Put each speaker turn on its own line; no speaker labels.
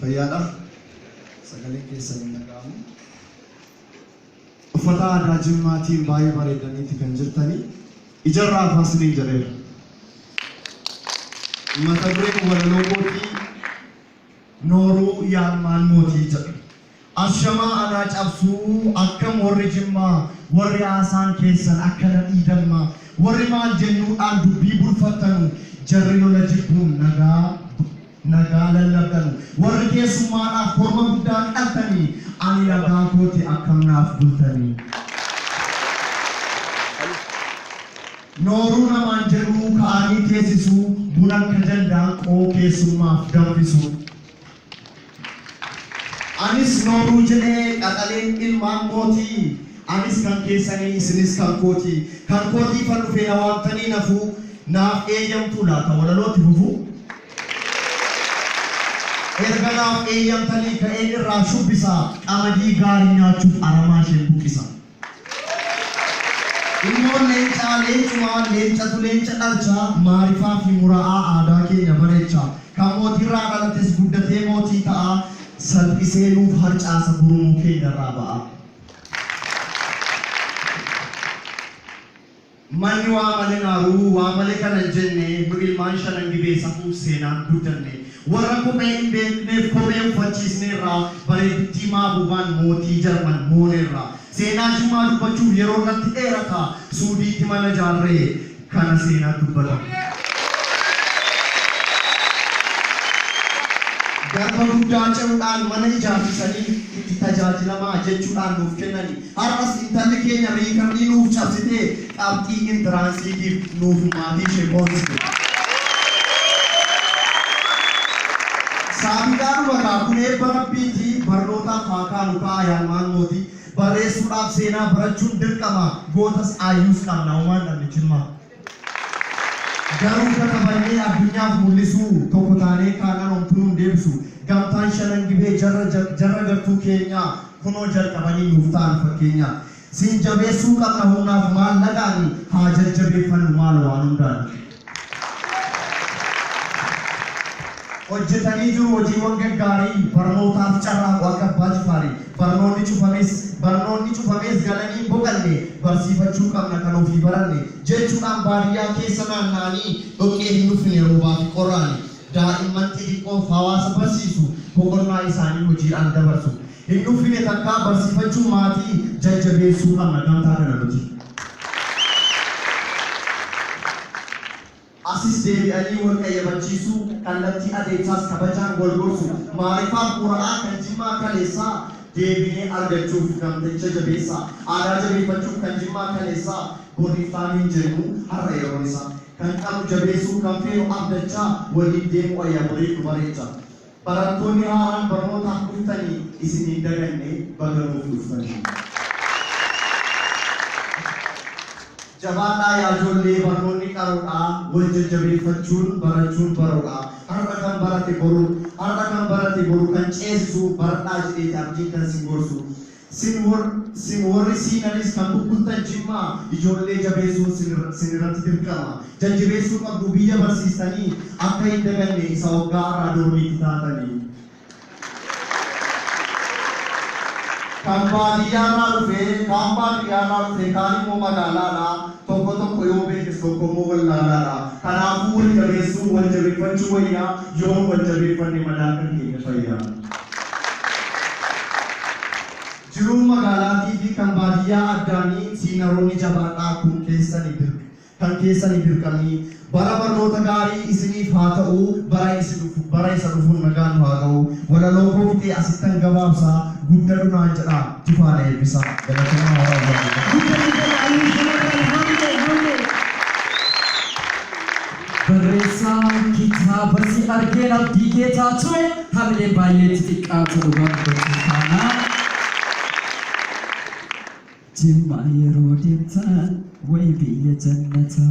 Fayyaadha? Sagaleen keessan hin dhaga'amu. Uffata aadaa Jimmaatiin baay'ee bareedaniiti kan jirtanii. Ijarraa hafaa isiniin jedheera. Mata dureen walaloo kootii Nooruu Yaarmaan Mootii jedha. Ashamaa anaa cabsuu akkam warri jimmaa warri haasaan keessan akka nadhii dammaa warri maal jennuudhaan dubbii bulfattanu jarri lola jibbuun nagaa nagaa lallabdanu warri keessummaadhaaf korma guddaa qaltanii ani nagaa kooti akkam naaf bultanii nooruu namaan jedhuu ka'anii teessisuu bunan ka dandaan qoo keessummaaf danfisuu. Anis nooruu jedhee qaxaleen ilmaan kootii Anis kan keessanii isinis kan kootii Kan kootiifan dhufee na waamtanii nafuu Naaf eeyyamtuu laata walaloo itti fufuu? Erga naaf eeyyamtanii ka'een irraa shubbisa Qamadii gaarii nyaachuuf aramaa isheen buqqisa. Ilmoon leencaa leencumaa, leencatu leenca dhalcha, maarifaa fi mura'aa aadaa keenya bareecha. Kan mootiirraa dhalates guddatee mootii ta'a, salphisee nuuf harcaasa gurmuu keenyarraa ba'a. Manni waa male naaru waa male kana hin jenne nu ilmaan shanan gibee safuuf seenaan guddanne warra kophee hin beekneef kophee uffachiisneerra bareeddittii maabuubaan mootii jarman mooneerra seenaa jimmaa dubbachuuf yeroon natti dheerata suudiitti mana jaarre kana seenaan dubbata garba guddaa ce'uudhaan mana ijaarsisanii itti tajaajilamaa jechuudhaan nuuf kennani. Har'as intalli keenya riikamnii nuuf cabsitee qabxii intiraansiitiif nuuf maatii ishee boonsite. Saabiidaadhuma kaa kun eebba Rabbiiti barnootaaf haa kaanu kaa Ayaalmaan mooti barreessuudhaaf seenaa barachuun dirqama gootas aayyuus qabna homaa hin dhabne jimmaa. Garuu katabannee addunyaaf mul'isuu, tokko taanee kaanaan homtuu nun deebisu. Gamtaan shanan gibee jarra jarra gartuu keenyaa kunoo jalqabanii nuuf ta'an fakkeenya. Sin jabeessuu qabna humnaaf maallaqaani haa jajjabeeffannu maalo waan hundaani. hojjetanii jiru hojiiwwan gaggaariin barnootaaf carraaqu akka Abbaa Jifaari barnoonni cufames barnoonni cufamees galanii hin boqanne barsiifachuu qabna kan ofii baranne jechuudhaan baadiyyaa keessa naanna'anii dhoqqee hin uffine roobaafi qorraan daa'imman xixiqqoof hawaasa barsiisu boqonnaa isaanii hojiidhaan dabarsu hin uffine takkaa barsiifachuu maatii jajjabeessuu qabna gamtaa kana nuti. Asis deebi'anii wal qayyabachiisuu, kallattii adeemsaas kabajaan wal gorsu. Maarifaa Qura'aa kan Jimmaa kaleessaa deebinee argachuuf namticha jabeessaa. Aadaa jabeeffachuuf kan Jimmaa kaleessaa bor iftaan hin jennu har'a yeroon isaa. Kan qabnu jabeessuu, kan feenu abdachaa waliin deemuu ayyaanborii nu bareecha. Barattoonni haaraan barnootaaf dhuftani isin hin daganne baga nuuf dhuftani. Jabaadhaa yaa ijoollee barnoonni qaroodha wal jajjabeeffachuun barachuun baroodha har'a kan barate boru har'a kan barate boru kan ceesisu baradhaa jedheeti abdiin kan isin gorsu. Sin wor sin worri siinanis kan bubbultan jimma ijoollee jabeessuun sin sin irratti dirqama. Jajjebeessuu qabdu biyya barsiistanii akka hin daganne isa oggaa arraa dormiitti taatanii. Kan baadiyyaarraa dhufe kaan baadiyyaarraa dhufe kaan immoo magaalaadha. Tokko tokko yoo beekes tokko immoo wallaalaadha. Kanaafuu wal jabeessuu, wal jabeeffachuu wayya, yoo wal jabeeffanne madaa kan keenya fayya. Jiruun magaalaatii fi kan baadiyyaa addaani siinaroonni jabaadhaa kun keessani dirq kan keessani dirqamii Bara barnoota gaarii isiniif haa ta'u bara isi dhufu bara isa dhufuun nagaan nu haa ga'u walaloo koo fixee asittan gabaabsa guddadhu naan jedhaa tufaa na eebbisa galatomaa hora bulaa
Barreessaa kitaaba si argeen abdii kee taatu hamileen baay'ee itti xiqqaatu dhugaa dubbachuu taana. Jimmaa yeroo deemtaan wayi biyya jannataa.